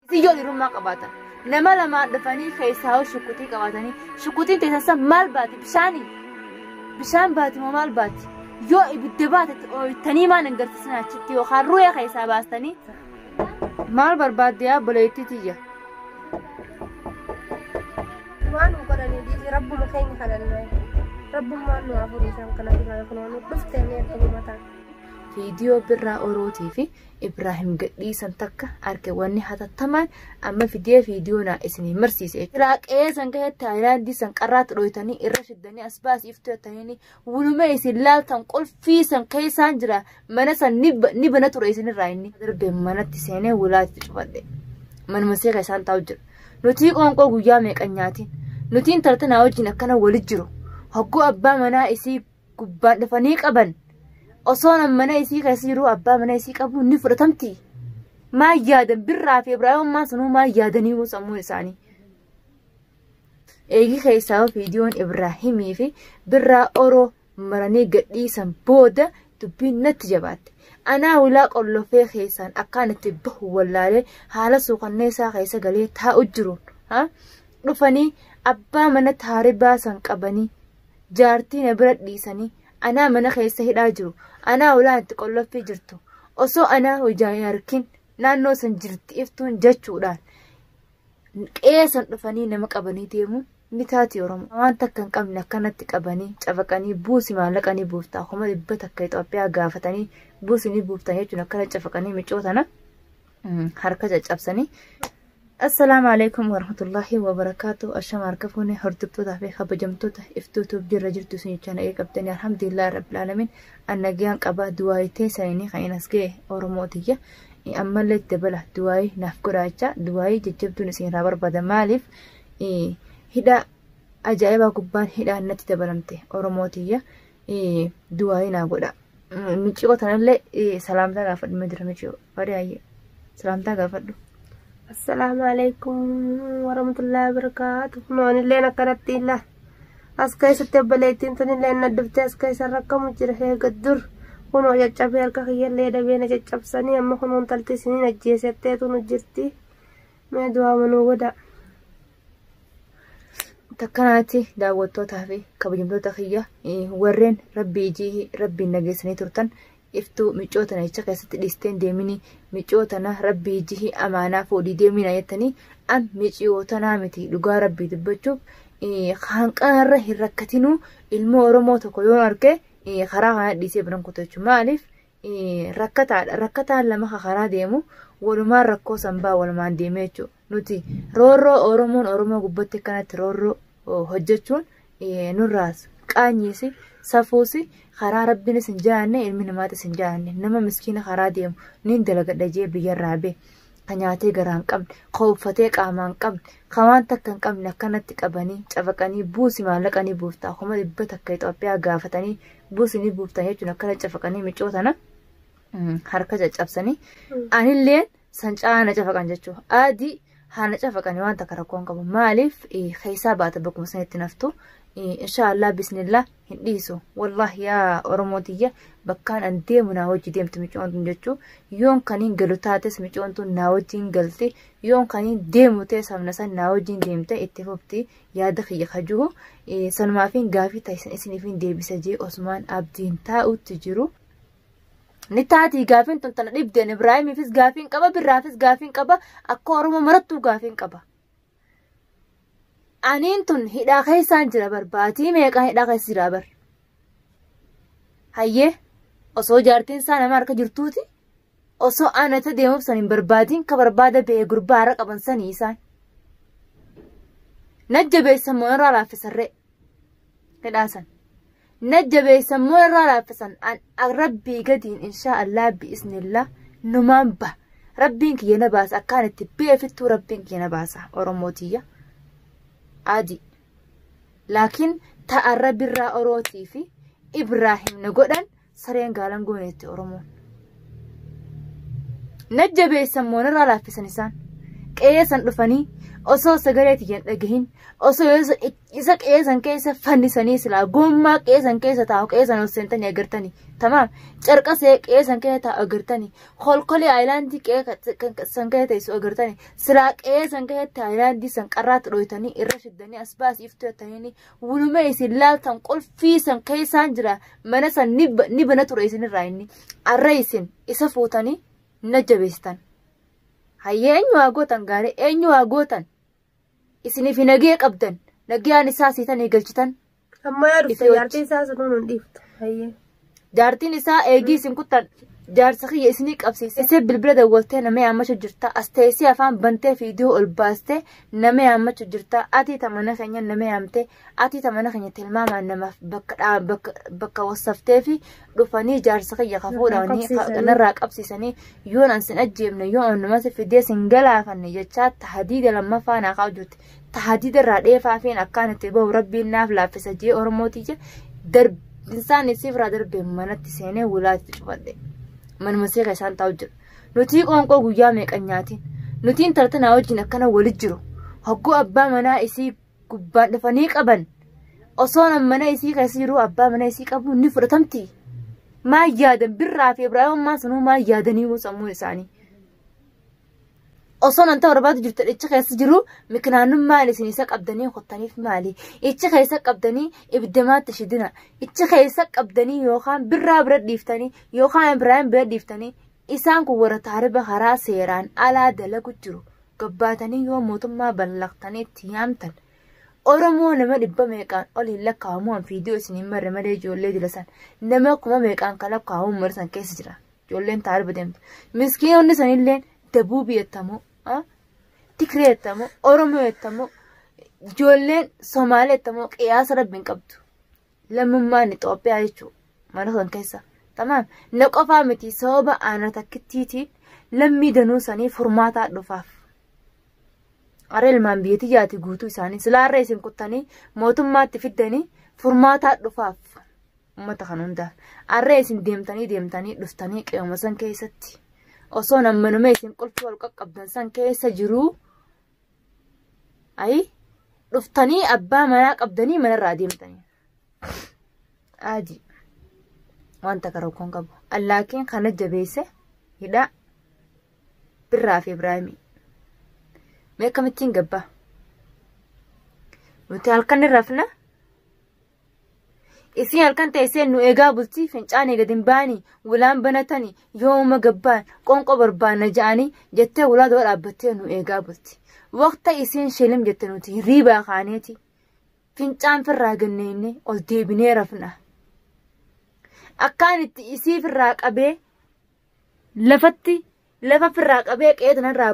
Isin yoo dhiirummaa qabaatan nama lamaan dhufanii keessaa hoo shukkutii qabaatanii shukkutiin teessan san maal baati bishaanii bishaan baati moo maal baati yoo ibidda baatetti ooyitanii maan hin garsiisan achitti yookaan ru'ee keessaa baastanii maal barbaadde yaa boleettii tiyya. waan nu godhanii dhiisi rabbuma keenya kadhannaa rabbummaan nu hafurii isaan kana duraa kunoonu dhuftee mee akka gubataa. viidiyoo birraa orootii fi Ibraahim gadhiisan takka arke wanni hatattamaan amma fidee viidiyoo naa isinii marsiise. Ilaa qe'ee san gahetti haayilaandii san qarraatti dhooytanii irra shiddanii as baasii iftuu jettanii wuluma isin laaltan qulfii san keessaan jira mana san ni bana ture isinirraa inni. Darbee manatti seenee wulaatti cufadhe. Manuma see keessaan taa'u jira. Nutii qoonqoo guyyaa meeqan nyaatiin. Nutiin tartanaa wajjin akkana wali jiru. Hogguu abbaa manaa isii gubbaan dhufanii qaban osoon mana isii keessa jiruu abbaa mana isii qabu ni fudhatamti. Maa yaadan birraa fi Ibraahimummaa sanuu maa yaadanii moo sammuu isaanii. Eegi keessaa viidiyoon Ibraahimii fi birraa oroo maranii gadhiisan booda dubbiin natti jabaatte. Anaa ulaa qollofee keessaan akkaan itti bahu wallaalee haala suukanneessaa keessa galee taa'u jiruun. Dhufanii abbaa mana taaribaa san qabanii jaartii na bira dhiisanii anaa mana keessa hidhaa jiru anaa ulaa itti qollaffii jirtu osoo anaa hojaa hin arkin naannoo san jirti iftuun jechuudhaan qe'ee san dhufanii nama qabanii deemuun ni taati oromoo waan takka hin qabne akkanatti qabanii cafaqanii buusi maallaqa ni buuftaa kuma dhibba takka Itoophiyaa gaafatanii buusi ni buuftan jechuun akkana cafaqanii micootana. harka caccabsanii assalaamu alaikum warahmatullaahi wabarakaatu ashama harka fuune hordoftootaa fi kabajamtoota iftuutuuf jirra jirtu isin jechaa nagee qabdanii alhamdulillah rabbil alamin an nagayaan qabaa duwaayii teessanii kan as ga'e oromoo tiyya ammallee itti dabala duwaayii naaf godhaa jechaa duwaayii jajjabduun isin irraa barbaada maaliif hidhaa ajaa'ibaa gubbaan hidhaan natti dabalamte oromoo tiyya duwaayii naa godhaa miciyoo tanallee salaamtaa gaafadhuma jira miciyoo Fadaaye salaamtaa gaafadhu. Assalaamu alaikum warahmatullahi wabarakaatu. Kunoo anilleen akkanatti illa. As keessatti obboleettiin tunillee na dhuftee as keessa rakkamu jira eega dur. Kunoo caccabee harka kiyyallee dabee na caccabsanii amma kunoo intalti isiniin ajjeesetteetu nu jirti. Mee du'aa manuu godha. Takkanaatti daawwattootaa fi kabajamtoota kiyya warreen rabbii ijii rabbiin nageessanii turtan iftuu miccoo tana jecha keessatti dhiisteen deemini miccoo tana rabbii jihi amaanaa fuudhii deemina jettanii an miccoo tanaa miti dhugaa rabbii dubbachuuf hanqaarra hin rakkatinuu ilmoo oromoo tokko yoo arge karaa kana dhiisee biran kutu jechuudha maaliif rakkataadha rakkataan lama karaa deemu walumaan rakkoo sanbaa walumaan deemee jechuudha. Nuti roorroo Oromoon Oromoo gubbatti akkanatti roorroo hojjechuun nurraas qaanyiis safuus karaa rabbiinis hin jaanne ilmi namaatis hin jaanne nama miskiina karaa deemu niin dalagadha jee biyyarraa bee ka nyaatee garaa hin qabne ka uffatee qaamaa hin qabne ka waan takka hin qabne akkanatti qabanii cafaqanii buusi maallaqanii buuftaa kuma dhibba takka Itoophiyaa gaafatanii buusi ni buuftan jechuun akkana cafaqanii micootana harka caccabsanii anilleen san caa na cafaqan jechuu adi haa na cafaqani waan takka rakkoo hin qabu maaliif keessaa baata bakkuma sanitti naftu inshaallah bismillah hin dhiisu wallahi yaa oromoo tiyya bakkaan an deemu naa wajji deemti micoon tun jechuu yoon kaniin galu taates micoon tun naa wajjiin galti yoon kaniin deemu ta'e sabna san naa wajjiin deemte itti fufti yaada kiyya kajuhu sanumaafiin gaafii taasisan isiniifiin deebisa jee osmaan abdiin taa'utti jiru ni taatii gaafiin tun tana dhibdeen ibraahimiifis gaafiin qaba birraafis gaafiin qaba akka oromoo marattuu gaafiin qaba aniin tun hidhaa keessaan jira bar baatii meeqaa hidhaa keessa jira bar hayyee osoo jaartiin isaa nama harka jirtuuti osoo aanata deemuuf san hin barbaadiin ka barbaada ba'ee gurbaa har'a qaban sanii isaan najjabeessan moo irraa laaffisarree hidhaa san na jabeessan moo irraa laaffisan an rabbii gadiin inshaa allah bi'iznillah numaan ba rabbiin kiyya na baasa akkaan itti beefittuu rabbiin kiyya na baasa oromoo tiyya adii laakiin ta'a rabbi irraa orootii fi ibraahim na godhan sareen gaalan gooneetti oromoon na jabeessan moo irraa laaffisan isaan qe'ee san dhufanii osoo sagalee tiyyan dhagahin osoo isa qeesan keessa fannisanii silaa gommaa qeesan keessa taa'u qeesan ol seentanii agartanii tamaam carqasee qeesan keessa taa'u agartanii kolkolee aayilaandii qeesan keessa teessu agartanii silaa qeesan keessatti aayilaandii san qarraatti dhooytanii irra shiddanii as baasii iftuu jettanii wuluma isin laaltan qulfii san keessaan jira mana san ni bana ture isinirraa inni arra isin isa fuutanii na jabeessitan hayyee eenyu waa gootan gaarii eenyu waa gootan isiniif nagee qabdan nagayaan isaa siitanii galchitan Amma yaa dhufte Itti jaartii isaa sunuun hin dhiiftu. Hayyee. jaartiin isaa eegii isin kuttan jaarsa kiyya isinii qabsiise isee bilbila dawwaltee nama yaammachu jirta as teessee afaan bantee fiidiyoo ol baastee nama yaammachu jirta atii tamana keenya nama yaamtee Ati ta mana keenya tilmaamaan namaaf bakka dhaa- bakka- bakka wassaftee fi dhufanii jaarsa kiyya ka fuudhanii qabsiisanii. kanarraa qabsiisanii yoon an sin ajjeefne yoo an nama si fidee sin galaafanne jechaa tahadiida lammaffaa naa kaa'u jirti. Tahadiida irraa dheefaa fi akkaan itti bahu rabbiin naaf laaffisa jee Oromootii jee darbinsaan isii irraa darbee manatti seenee wulaatti cufadhe. Manuma seeqa isaan taa'u jira. Nutii qoonqoo guyyaa meeqan nyaatiin. Nutiin tartanaa wajjin akkana wali jiru. Hogguu abbaa manaa isii gubbaan dhufanii qaban osoon mana isii keessa jiruu abbaa mana isii qabu ni fudhatamti. Maa yaadan birraa fi Ibraahimummaa sanuu maa yaadanii moo sammuun isaanii. Osoon wanta barbaadu jirtu ichi keessa jiru mikinaanummaan isin isa qabdanii qottaniif maali? Ichi keessa qabdanii ibiddamaatti shidina. Ichi keessa qabdanii yookaan birraa bira dhiiftanii yookaan Ibraahim bira dhiiftanii Isaan kun warra taariba karaa seeraan alaa dalagu jiru gabbaatanii yoo mootummaa ballaqtanii itti yaamtan Oromoo nama dhibba meeqaan ol hin lakkaa'amu an fiidiyoo isin hin marre malee ijoollee jilasan nama kuma meeqaan kan lakkaa'amu ummata san keessa jira ijoolleen taariba deemtu miskiinonni sanilleen dabuubii jettamoo tigree jettamoo oromoo jettamoo ijoolleen somaalee jettamoo qiyaasa rabbiin qabdu lammummaan Itoophiyaa jechuudha. Mana san keessa. Tamaam. Na qofaa miti sababa ana takkittiitiin lammii danuu sanii furmaataa dhufaaf. Aree ilmaan biyya tiyyaati guutuu isaanii silaarree isin kuttanii mootummaatti fiddanii furmaataa dhufaaf. Uummata kan hundaaf. Arree isin deemtanii deemtanii dhuftanii qe'uma san keessatti. Osoo nammanumee isin qulfii wal qaqqabdan san keessa jiruu Ayi dhuftanii abbaa manaa qabdanii manarraa deemtanii. Aji wanta karookkoon qabu. Allaakiin kana jabeesse hidhaa birraa fi Ibraahimii. Mee akkamittiin gabbaa? Nuti halkan irraa fina Isiin halkan teessee nu eegaa bultii fincaanii gad hin baanii wulaan banatanii yooma gabbaan qonqoo barbaanna ja'anii jettee wulaa dura dhaabbattee nu eegaa bulti. Waqta isiin shilim jette nuti hirriibaa kaaneeti fincaan firraa ganneennee ol deebinee rafna. Akkaan itti isii firraa qabee lafatti lafa firraa qabee qe'ee tanarraa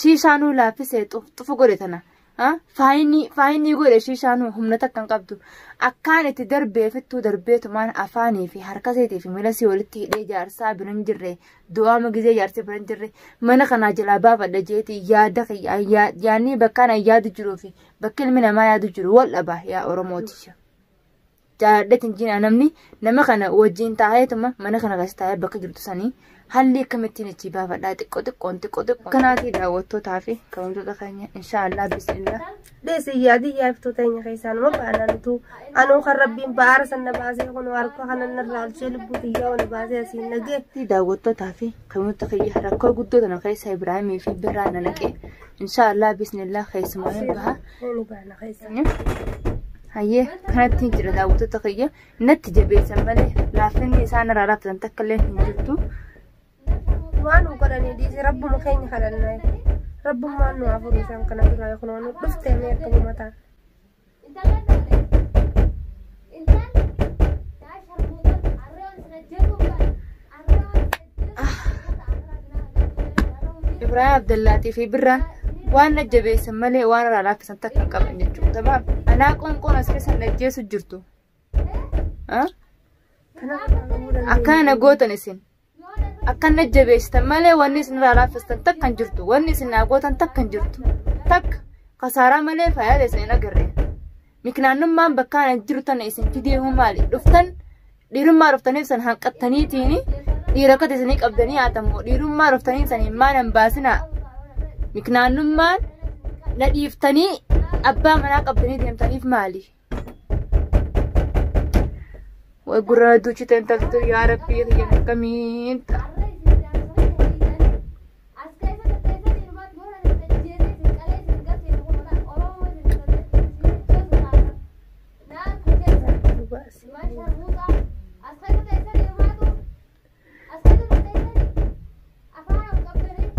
Shiishaanuu laaffisee xufu godhe tana. Faayinii godhe shiishaanuu humna takka hin qabdu. Akkaan itti darbee fittuu darbeetumaan afaanii fi harkaseetii fi miilasii walitti hidhee jaarsaa bira hin jirre du'aama gizee jaarsi bira hin jirre mana kanaa jalaa baafadha jeeti yaada yaadni bakkaan yaadu jiruu fi bakki ilmi namaa yaadu jiru wal dhabaa yaa Oromooti. jaaladheet hin jiina namni nama kana wajjin taa'eetuma mana kana keessa taa'ee bakka jirtu sanii haalli akkamittiin itti baafadhaa xiqqoo xiqqoon xiqqoo xiqqoo kanaatii daawwattootaa fi kabajamtoota keenya inshaallah bismillah. Deessi yaadii yaaftuu teenya keessaa nama baanantu anuu kan rabbiin ba'aara sanna baasee kun harka kana narraa olchee lubbuu xiyyaa ol baasee asiin nagee. daawwattootaa fi kabajamtoota keenya rakkoo guddoo tana keessa Ibraahimii fi Birraa na naqee insha allah bismillah keessumaa ni baha Ni baana keessa. hayyee kanatti hin jira daawwattoota kiyya natti jabeessan malee laafinni isaan irraa raaftan takka illee hin jirtu Waan nu godhanii dhiisee rabbuma keenya kadhannaa. Rabbummaan nu hafuuf isaan kana duraa kunoo nu dhuftee mee akka uumataa. Intallan dhaalee ilmaan yaa sharmuuxan arree waan isin ajjeesuuf kan arree waan isin ajjeesuuf Ah. ummata akhiraa dinaa hajjeesuu malee arree hundii Ibrahim Abdallaatii fi Birraan waan na jabeessan malee waan irraa laaffisan takka hin qaban jechuudha. Tabaaf anaa qoonqoon as keessa na ajjeesu jirtu. Ah? Akkaana gootan isin. Akkan na jabeessitan malee wanni isin irraa laaffistan takka hin jirtu. Wanni isin naa gootan takka hin jirtu. Takka kasaaraa malee faayidaa isin hin agarre. Miknaannummaan bakka ana jiru tana isin fidee hoo maali? Dhuftan dhiirummaa dhuftaniif san hanqattaniitiin dhiira akkati isinii qabdanii haatammoo dhiirummaa dhuftanii san hin maanan baasinaa. Miknaannummaan na dhiiftanii abbaa manaa qabdanii deemtaniif maali? Way gurraa duuchite intaltu yaa rabbii kiyya akkamiin ta'a. Asii dura ta'ee afaan ol qabdanii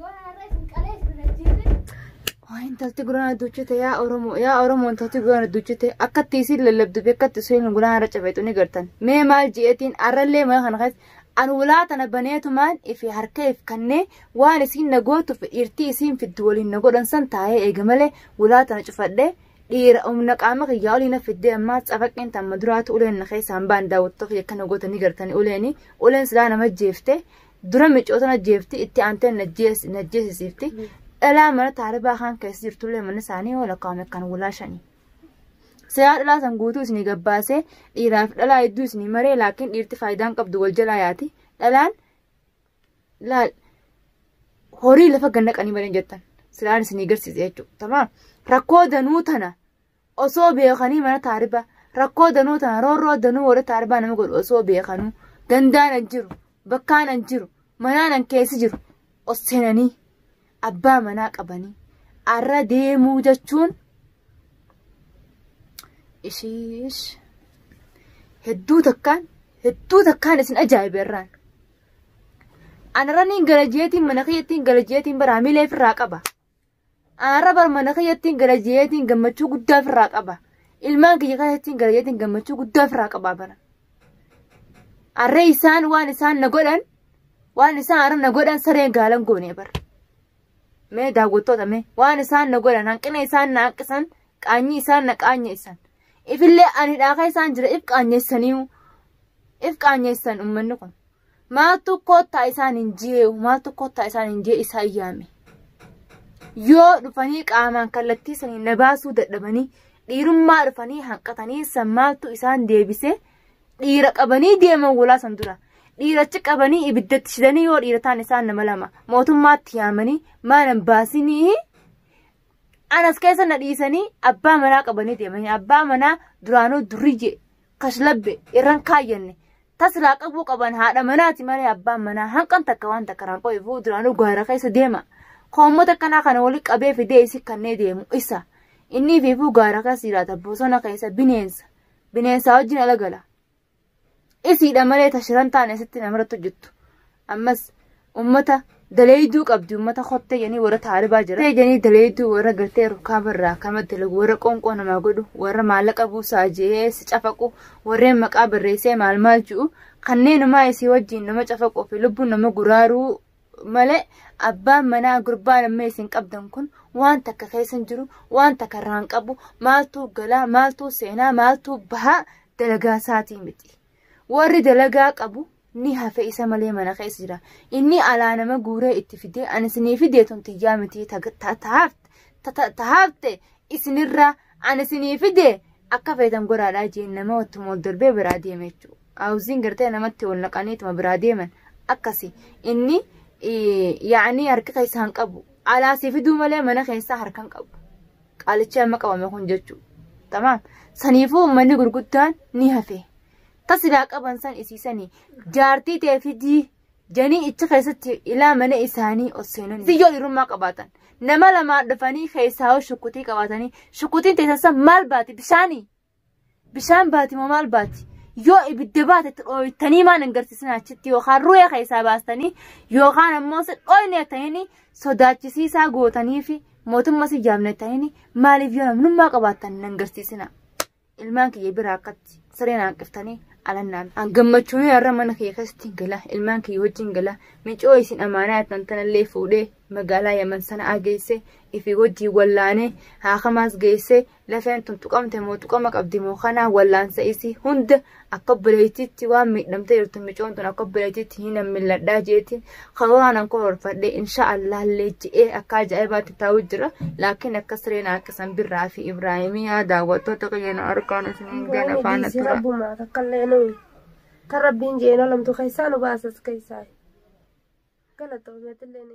yoo har'a isin qalee isin ajjeesee. Waa intalti guraan adduuchite yaa Oromoo yaa Oromoo intalti guraan adduuchite akkatti isin lallabdu fi akkatti isheen guraan har'a cabeetu ni gartan. Mee maal ji'eetiin har'allee mana kana keessa an ulaa tana baneetumaan ifi harka if kannee waan isiin na gootuuf dhiirtii isiin fiddu waliin na godhan san taa'ee eega malee ulaa tana cufadhee Dhiira humna qaama kiyyaa olii na fiddee ammaa cafaqqeen tamma duraatu uleen na keessaan baan daawwattoota kiyya akkana goota ni gartanii uleeni uleen silaa nama jeefte dura micoota na jeefti itti aantee na jeesisiifti dhalaa mana taaribaa kaan keessa jirtullee mana isaanii yoo lakkaa'ame kan wulaa shanii. Siyaa dhalaa san guutuu isinii gabbaasee dhiiraaf dhalaa hedduu isinii maree laakiin dhiirti faayidaan qabdu wal jalaa yaati dhalaan laal horii lafa gannaqanii malee jettan silaan isinii garsiise jechuudha tamaam rakkoo danuu tana osoo beekanii mana taariba rakkoo danuu tana roorroo danuu warra taaribaa nama godhu osoo beekanuu gandaan an jiru bakkaan an jiru manaan an keessi jiru os seenanii abbaa manaa qabanii arra deemuu jechuun ishiish hedduu takkaan hedduu takkaan isin ajaa'ibe irraan. Anaraniin garajeetiin mana kiyyattiin garajeetiin bara hamilee ofirraa qaba. Anarra bara mana kiyyattiin garajeetiin gammachuu guddaa ofirraa qaba. Ilmaan kiyya keessattiin garajeetiin gammachuu guddaa ofirraa qaba bara. Arree isaan waan isaan na godhan waan isaan arra na godhan sareen gaalan goonee bara. Mee daawwattoota mee waan isaan na godhan hanqina isaan na hanqisan qaanyii isaan na qaanyeessan. Ifillee ani dhaaka isaan jira if qaanyeessaniiyu if qaanyeessan uummanni kun. Maaltu koottaa isaan hin jee maaltu koottaa isaan hin jee isaan yaame. Yoo dhufanii qaamaan kallattii sanii na baasuu dadhabanii dhiirummaa dhufanii hanqatanii san maaltu isaan deebisee dhiira qabanii deeman walaa san dura. Dhiirachi qabanii ibiddatti shidanii yoo dhiira ta'an isaan nama lama mootummaatti yaamanii maalan baasinii anas keessa na dhiisanii abbaa manaa qabanii deemanii abbaa manaa duraanuu duriyye kashlabbe irran kaayyanne taslaa qabuu qaban haadha manaati malee abbaan manaa hanqan takka waan takka irraan qo'ifuu duraanuu gaara keessa deema koommota akkanaa kana wali qabee fidee isi kannee deemu isa inni fiifuu gaara keessa jiraata bosona keessa bineensa bineensaa wajjin ala gala isiidha malee ta shiran taane asitti namarratti hojjettu ammas ummata daleeyduu qabdi ummata kottee janii warra taaribaa jira kottee janii daleeyduu warra gartee rukaaba irraa akkama dalagu warra qoonqoo namaa godhu warra maallaqa buusaa jee si cafaqu warreen maqaa barreessee maal maal ji'u kanneenumaa isii wajjiin nama cafaquu fi lubbuun nama guraaruu malee abbaan manaa gurbaa lammee isin qabdan kun waan takka keessa hin jiru waan takka irraa hin qabu maaltuu galaa maaltuu seenaa maaltuu bahaa dalagaa isaatii miti warri dalagaa qabu ni hafe isa malee mana keessa jira inni alaa nama guuree itti fidee ani isinii fidee tun tiyyaa miti tahaafte isinirraa ani isinii fidee akka feetan godhaadhaa jeen nama wattuma ol darbee biraa deeme jechuudha. Auziin gartee namatti wal naqaniituma biraa deeman akkasi inni yaa'anii harki keessa hin qabu alaasii fiduu malee mana keessaa harka hin qabu qaalichi amma qabame kun jechuu tamaam saniifuu uummanni gurguddaan ni hafe tasibaa qaban san isiisanii jaartii ta'e fidii janii ichi keessatti ilaa mana isaanii ol seenanii siyyoo dhiirummaa qabaatan nama lamaa dhufanii keessaa shukkutii qabaatanii shukkutiin teessan san maal baati bishaanii Bishaan baati moo maal baati? Yoo ibidda baate itti dhooytanii maan hin garsiisin achitti yookaan ru'ee keessaa baastanii yookaan ammoo si dhooyne jettanii sodaachisiisaa gootanii fi mootummaa si jaamne jettanii maaliif yoo namnummaa qabaattan hin garsiisina. Ilmaan kiyya bira akkatti sireen hanqiftanii alannaan. An gammachuun har'a mana kiyya keessatti hin gala ilmaan kiyya wajjin hin gala micoo isin amaanaa jettan tanallee fuudhee magaalaa yaman sana geesse ifi wajjin wallaanee haakamaas geesse Lafeen tun tuqamte moo tuqama qabdi moo kanaa wallaansa isii hunda akka obboleettiitti waan miidhamtee jirtu micoon tun akka obboleettiitti hin milladhaa jeetiin hawaanan koo horfadhee insha Allah illee je'ee akka ajaa'ibaatti taa'u jira laakiin akka sireen harkisan birraa fi Ibraahimii yaa daawwattoota qayyana arkaan isiniin gana faana tura. Rabbumaa takkallee nuyi kan rabbiin je'een olamtu keessaa nu baasas keessaa. Galatoomeetillee ni